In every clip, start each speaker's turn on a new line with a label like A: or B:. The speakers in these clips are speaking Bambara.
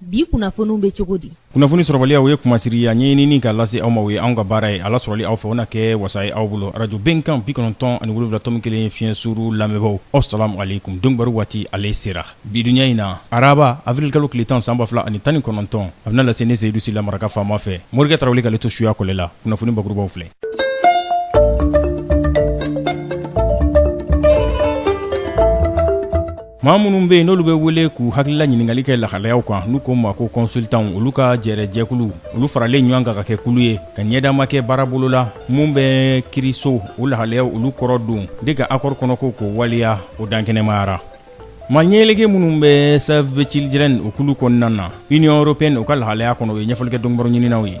A: bi kunnafoniw bɛ cogo di kunnafoni sɔrɔbaliya o
B: ye kumasiri a ɲɛɲinini ka lase aw ma o ye anw ka baara ye ala sɔrɔli aw fɛ o na kɛ wasa ye aw bolo arajo bɛnkan bi kɔnɔntɔn ani wolonwula tɔmi kelen fiɲɛ suru lamɛnbagaw asalamu aleykum donkibaru waati ale sera bi duɲa in na araba avril-kalo tile tan san ba fila ani tan ni kɔnɔntɔn a bɛna lase ne seyidu sila maraka faama fɛ morikɛ tarawele k'ale to suya kɔlɛ la kunnafoni bakurubaw filɛ Maa minnu bɛ yen n'olu bɛ wele k'u hakilila ɲininkali kɛ lahalayaw kan n'u k'o ma ko consultants olu ka jɛrɛjɛkulu, olu faralen ɲɔgɔn kan ka kɛ kulu ye, ka ɲɛdama kɛ baara bolo la min bɛ kiiriso o lahalayaw olu kɔrɔ don de ka accord kɔnɔko k'o waleya, o dankɛnɛmayara. Maa ɲɛyɛlɛkɛ minnu bɛ Save the Children o kulu kɔnɔna na Union européenne o ka lahalaya kɔnɔ, u ye ɲɛfɔli kɛ donkibaruɲininaw ye.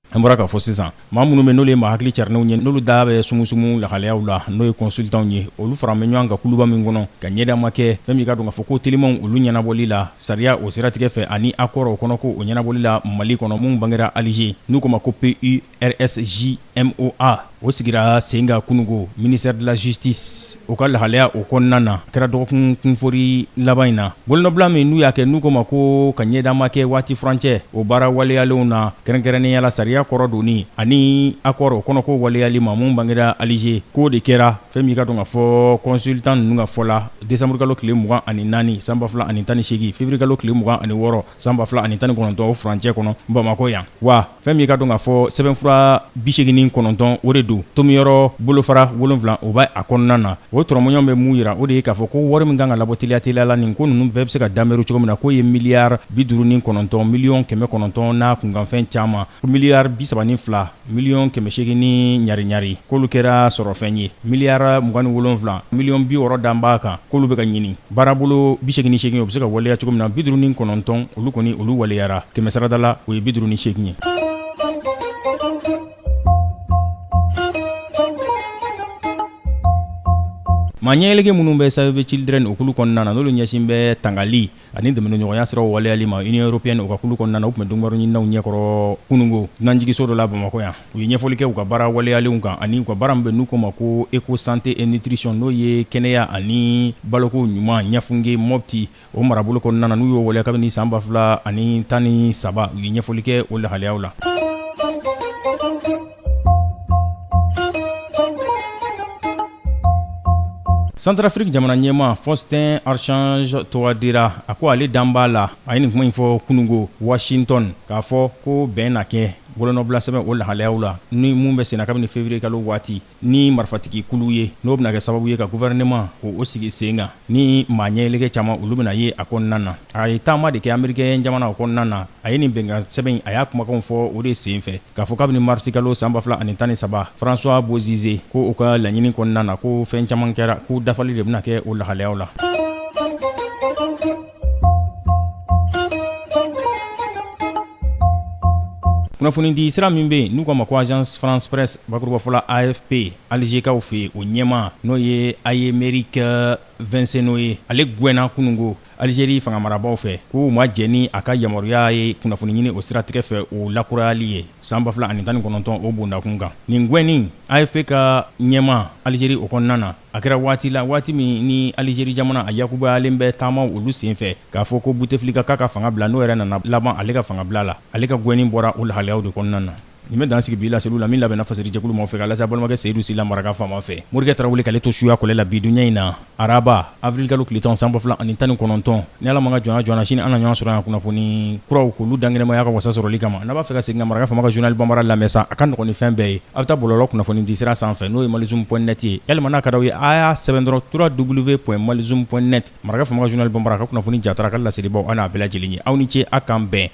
B: An bɔra k'a fɔ sisan maa minnu bɛ n'olu ye maa hakili carinnenw ye n'olu da bɛ sumusumu lahalayaw la n'o ye kɔnsultanw ye olu faralen bɛ ɲɔgɔn kan kuluba min kɔnɔ ka ɲɛdama kɛ fɛn min ka don k'a fɔ ko telimanw olu ɲɛnabɔli la sariya o siratigɛ fɛ ani accord o kɔnɔ ko o ɲɛnabɔli la mali kɔnɔ min bangera alize n'u k'o ma ko pursjmoa O sigira sen kan kununko ministère de la justice o ka lahalaya o kɔnɔna na kɛra dɔgɔkun kunfori laban in na bolonɔbila min n'u y'a kɛ n'u k'o ma ko ka ɲɛdama kɛ waati furancɛ o baara waleyalenw na kɛrɛnkɛrɛnnenya la sariya kɔrɔ donni ani accord o kɔnɔ ko waleyali ma min bangera alize k'o de kɛra fɛn min ka don k'a fɔ kɔnsultan ninnu ka fɔ la desanburukalo tile mugan ani naani san ba fila ani tan ni seegin feburuyekalo tile mugan ani wɔɔrɔ san ba fila ani tan ni kɔnɔntɔn o furancɛ kɔnɔ bamakɔ yan wa Fɛn min ye ka don k'a fɔ sɛbɛnfura 89 o de don tomiyɔrɔ bolofara 7 o bɛ a kɔnɔna na o tɔrɔmɔɲɔgɔn bɛ mun jira o de ye k'a fɔ ko wari min ka kan ka labɔ teliya teliya la nin ko ninnu bɛɛ bɛ se ka danbɛru cogo min na k'o ye miliyari 59 miliyɔn kɛmɛ kɔnɔntɔn n'a kunkanfɛn caman miliyari 32 miliyɔn kɛmɛ seegin ni ɲari-ɲari k'olu kɛra sɔrɔfɛn ye miliyari mugan ni wolonwula miliyɔn bi wɔɔrɔ dan b'a kan k'olu bɛ ka ɲini Baarabolo 88 o bɛ se ka waleya cogo min na 59 olu kɔni olu waleyara kɛmɛ sarada la o ye 58 ye. Maa ɲɛɛlɛge minnu bɛ Save the Children o kulu kɔnɔna na n'olu ɲɛsin bɛ tangali ani dɛmɛnɲɔgɔnya siraw waleyali ma Union européenne o ka kulu kɔnɔna na u tun bɛ donkibaru ɲininaw ɲɛkɔrɔ kununko dunanjigiso dɔ la Bamakɔ yan. u ye ɲɛfɔli kɛ u ka baara waleyalenw kan ani u ka baara min bɛ n'u k'o ma ko eco santé et nutrition n'o ye kɛnɛya ani baloko ɲuman ɲafunke mɔpti o marabolo kɔnɔna na n'u y'o waleya kabini san ba fila ani tan ni saba u ye ɲɛfɔli kɛ o lahaliyaw la santarafiriki jamana ɲɛmaa faustin archange touadéra a ko ale dan b'a la a ye nin kuma in fɔ kunungo washington k'a fɔ ko bɛn na kɛ Bolonɔbilasɛbɛn o lahalayaw la ni min bɛ senna kabini février kalo waati ni marifatigi kulu ye n'o bɛna kɛ sababu ye ka gouvernement k'o sigi sen kan ni maa ɲɛli caman olu bɛna ye a kɔnɔna na a ye taama de kɛ américain jamana o kɔnɔna na a ye nin bɛnkan sɛbɛn in a y'a kumakanw fɔ o de sen fɛ k'a fɔ kabini marisi kalo san ba fila ani tan ni saba François Bozizé ko o ka laɲini kɔnɔna na ko fɛn caman kɛra k'o dafali de bɛna kɛ o lahalayaw la kunnafonidi sira min bɛ yen n'u k'a ma ko agence france presse bakurubafɔla afp alizekaw fɛ o ɲɛma n'o ye Aymeric Vincenot ye ale gwɛnna kunungo alizeri fangamarabaaw fɛ k'u ma jɛn ni a ka yamaruya ye kunnafoni ɲini o siratigɛ fɛ o lakurayali ye san 2019 o bondakun kan nin gwɛnni afp ka ɲɛma alizeri o kɔnɔna na A kɛra waati la waati min ni Alijeri jamana a yakubayalen bɛ taamaw olu senfɛ k'a fɔ ko Buteflika k'a ka fanga bila n'o yɛrɛ nana laban ale ka fanga bila la, ale ka gwɛnni bɔra o lahalayaw de kɔnɔna na. Nin bɛ dan sigi bi laseliw la min labɛnna Fasiri jɛkulu maaw fɛ k'a lase a balimakɛ Seyidu Sila maraka faama fɛ. Morikɛ Tarawele k'ale to suya kɔlɛ la bi dunya in na araba, avril kalo tile tan san ba fila ani tan ni kɔnɔntɔn. Ni ala ma jɔn jɔnna sini an na ɲɔgɔn sɔrɔ yan kunnafoni kuraw k'olu dankɛnɛmaya ka wasa sɔrɔli kama n'a b'a fɛ ka segin ka maraka faama ka journal bambara lamɛn sa a ka nɔgɔn ni fɛn bɛɛ ye a bɛ taa bɔlɔlɔ kunnafoni di sira sanfɛ n'o ye malizoom point net ye yalima n'a ka d'aw ye a y'a sɛbɛn dɔrɔn trois w point malizoom point net maraka faama ka journal bambara ka kunnafoni jatara ka laselibaw a n'a bɛɛ lajɛlen ye aw ni ce aw k'an bɛn